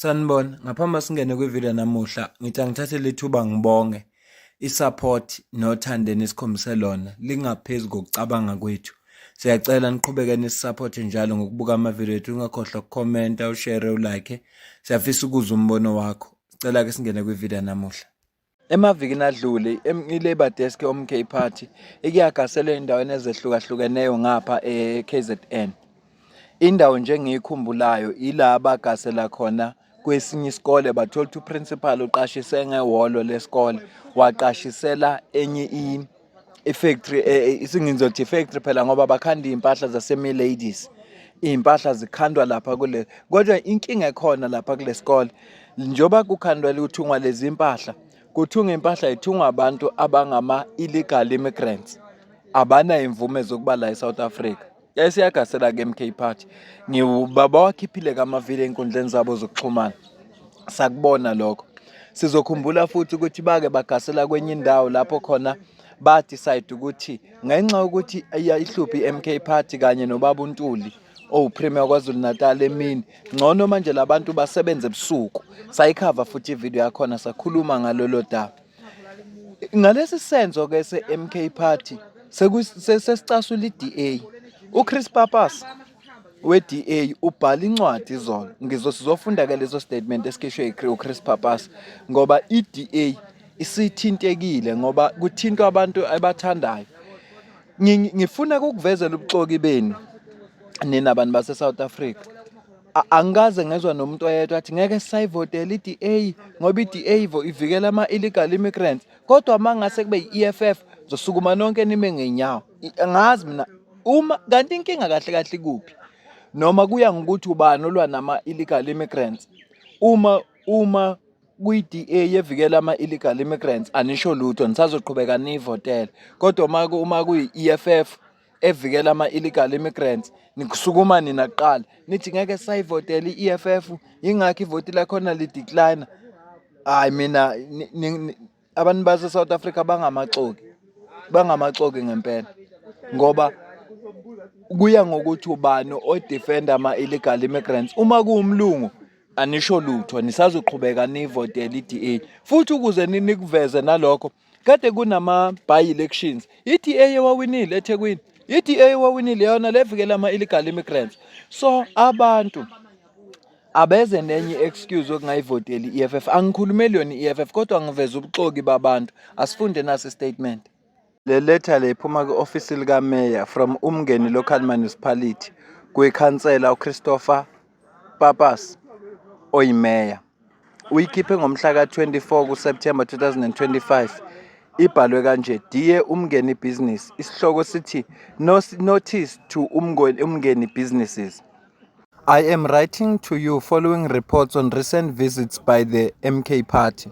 Sanibona, ngaphambi singene kwivideo namuhla, ngithi angithathe lethuba ngibonge isupport nothando enikhombise lona lingaphezulu kokucabanga kwethu. Siyacela niqhubeke nisisupport njalo ngokubuka amavideo ethu, ungakhohlwa ukukhomenta, ushare, ulike. Siyafisa ukuzwa umbono wakho. Sicela ke singene kwivideo namuhla. Emavikini adlule, i-Labour Desk yoMK Party ikuyagaselwe endaweni ezehlukahlukeneyo ngapha e-KZN. Indawo nje engiyikhumbulayo ila abagasela khona kwesinye isikole bathola ukuthi uprinsipali uqashise ngehholo lesikole waqashisela enye i ifactory eh, eh, isingizothi ifactory phela ngoba bakhanda iy'mpahla zasemi ladies iy'mpahla zikhandwa lapha kule kodwa inkinga ekhona lapha kule sikole njengoba kukhandwa luthungwa lezi mpahla kuthunga impahla ithungwa abantu abangama-illegal immigrants abanayo imvume zokuba la e-south africa Yayisiyagasela ke MK Party. Ngiwubaba wakhiphile kamavile enkundleni zabo zokuxhumana. Sakubona lokho. Sizokhumbula futhi ukuthi bake bagasela kwenye indawo lapho khona ba decide ukuthi ngenxa ukuthi ihluphi iMK Party kanye nobaba uNtuli owupremier oh, KwaZulu Natal emini ngcono manje labantu basebenze ebusuku sayikhava futhi ivideo yakhona sakhuluma ngalolo daba Ngalesi senzo ke se-MK Party sesicasula i-DA. UChris Papas we-DA ubhala incwadi izolo ngizo sizofunda ke leso statement esikhishwe uChris Papas ngoba i-DA isithintekile ngoba kuthintwa abantu abathandayo ngifuna kukuvezela ubuxoki benu nina bantu base-south africa angikaze ngezwa nomuntu oyedwa athi ngeke sisayivotela i-da ngoba i-da ivikela ama-illegal immigrants kodwa uma ngase kube yi-eff zosukuma nonke nime ngenyawo ngazi mina uma kanti inkinga kahle kahle ikuphi noma kuya ngokuthi ubani olwa nama-illegal immigrants uma uma kwi-DA yevikela ama-illegal immigrants anisho lutho nisazoqhubeka niyivotele kodwa uma uma kuyi-EFF evikela ama-illegal immigrants nikusukuma nina kuqala nithi ngeke sayivotela i-EFF yingakho ivoti lakhona lidecline hayi mina Abantu base South Africa bangamaxoki. Bangamaxoki ngempela. Ngoba kuya ngokuthi ubani odefenda ama illegal immigrants. Uma kuwumlungu anisho lutho nisazoqhubeka nivotele iDA futhi ukuze nikuveze nalokho kade kunama by elections iDA ewawinile eThekwini iDA ewawinile yona levikela ama illegal immigrants so abantu abeze nenye i-excuse okungayivoteli i-EFF angikhulumeli yona i-EFF kodwa ngiveza ubuxoki babantu asifunde nasi statement le letha le iphuma kwi-ofisi likameya from umngeni local municipality kwikhansela uchristopher papas oyimeya Uyikhiphe ngomhla ka-24 kuSepthemba 2025. Ibhalwe kanje, Dear Umngeni Business, isihloko sithi Notice to Umngeni Businesses. I am writing to you following reports on recent visits by the MK Party.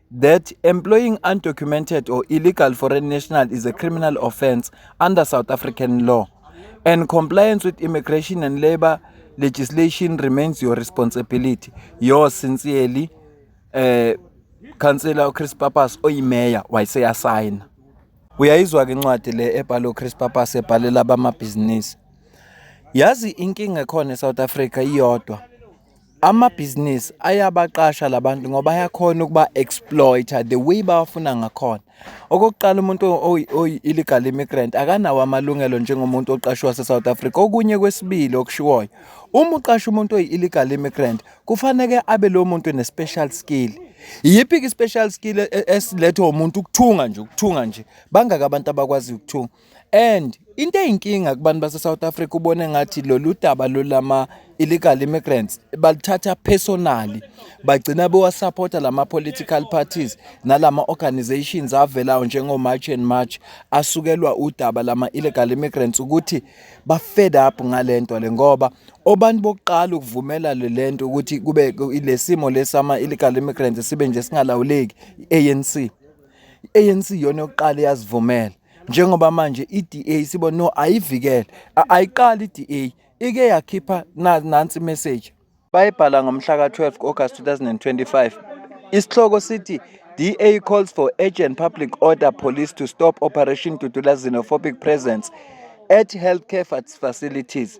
that employing undocumented or illegal foreign national is a criminal offence under South African law, and compliance with immigration and labour legislation remains your responsibility. Yours sincerely, uh, Councillor Chris Papas oyimeya wayeseyasayina. Uyayizwa-ke incwadi le ebhalwe uChris Papas ebhalela abamabhizinisi. Yazi inkinga ekhona eSouth Africa iyodwa. Amabhizinisi ayabaqasha la bantu ngoba ayakhona ukuba-exploit-a the way bawafuna ngakhona. Okokuqala umuntu oyi-illegal immigrant akanawo amalungelo njengomuntu oqashwe wase-South Africa. Okunye kwesibili okushiwoyo, uma uqasha umuntu oyi-illegal immigrant kufaneke abe lowo muntu ne-special skill. Iyiphi-ke i-special skill e-, esilethwa umuntu? Ukuthunga nje, ukuthunga nje. Bangaki abantu abakwaziyo ukuthunga? and into eyinkinga kubantu base South Africa ubone ngathi lolu daba lolama illegal immigrants balithatha personally bagcina bewasupporta lama political parties nalama organizations avelayo njengo March and March asukelwa udaba lama illegal immigrants ukuthi ba fed up ngalento le ngoba obantu bokuqala ukuvumela lento ukuthi kube lesimo lesama illegal immigrants sibe nje singalawuleki ANC ANC yona yokuqala yazivumela njengoba manje iDA sibo no ayivikele ayiqali iDA ike yakhipha nansi message bayibhala ngomhla ka-12 August 2025 isihloko sithi DA calls for urgent public order police to stop operation Dudula xenophobic presence at healthcare facilities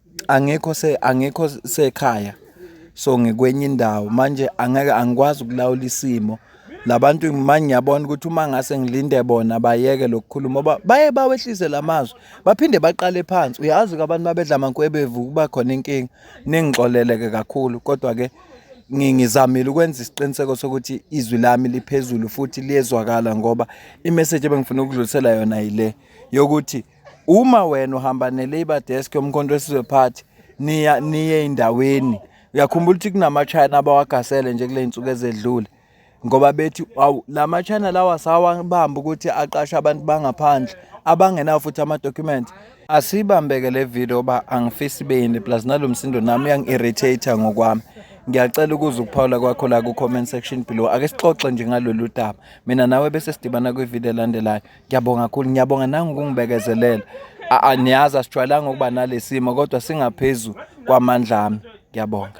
Angikho se angikho sekhaya so ngikwenye indawo manje angeke angikwazi ukulawula isimo labantu manje ngiyabona ukuthi uma ngase ngilinde bona bayeke lokukhuluma ngoba baye bawehlise lamazwi baphinde baqale phansi uyazi ke abantu mabedla amankwebevu kuba khona inkinga ningixoleleke kakhulu kodwa ke ngizamile ukwenza isiqiniseko sokuthi izwi lami liphezulu futhi liyezwakala ngoba imessage ebengifuna ukudlulisela yona yile yokuthi Uma wena uhamba ne-labour desk yomkhonto wesizwe party niya niye ey'ndaweni uyakhumbula ukuthi kunamachina abawagasele nje kule y'nsuku ezedlule ngoba bethi awu la machina lawa sawabamba ukuthi aqashe abantu bangaphandle abangenawo futhi amadokhumenti asibambeke le video uba angifisi ibe yini plus nalo msindo nami uyangi-irritate ngokwami ngiyacela ukuza ukuphawula kwakho la ku-comment section below ake sixoxe nje ngalolu daba mina nawe bese sidibana kwividiyo elandelayo Ngiyabonga kakhulu, ngiyabonga nangu kungibekezelela. A- a- Niyazi asijwayelanga ukuba nalesimo kodwa singaphezu kwamandla ami. Ngiyabonga.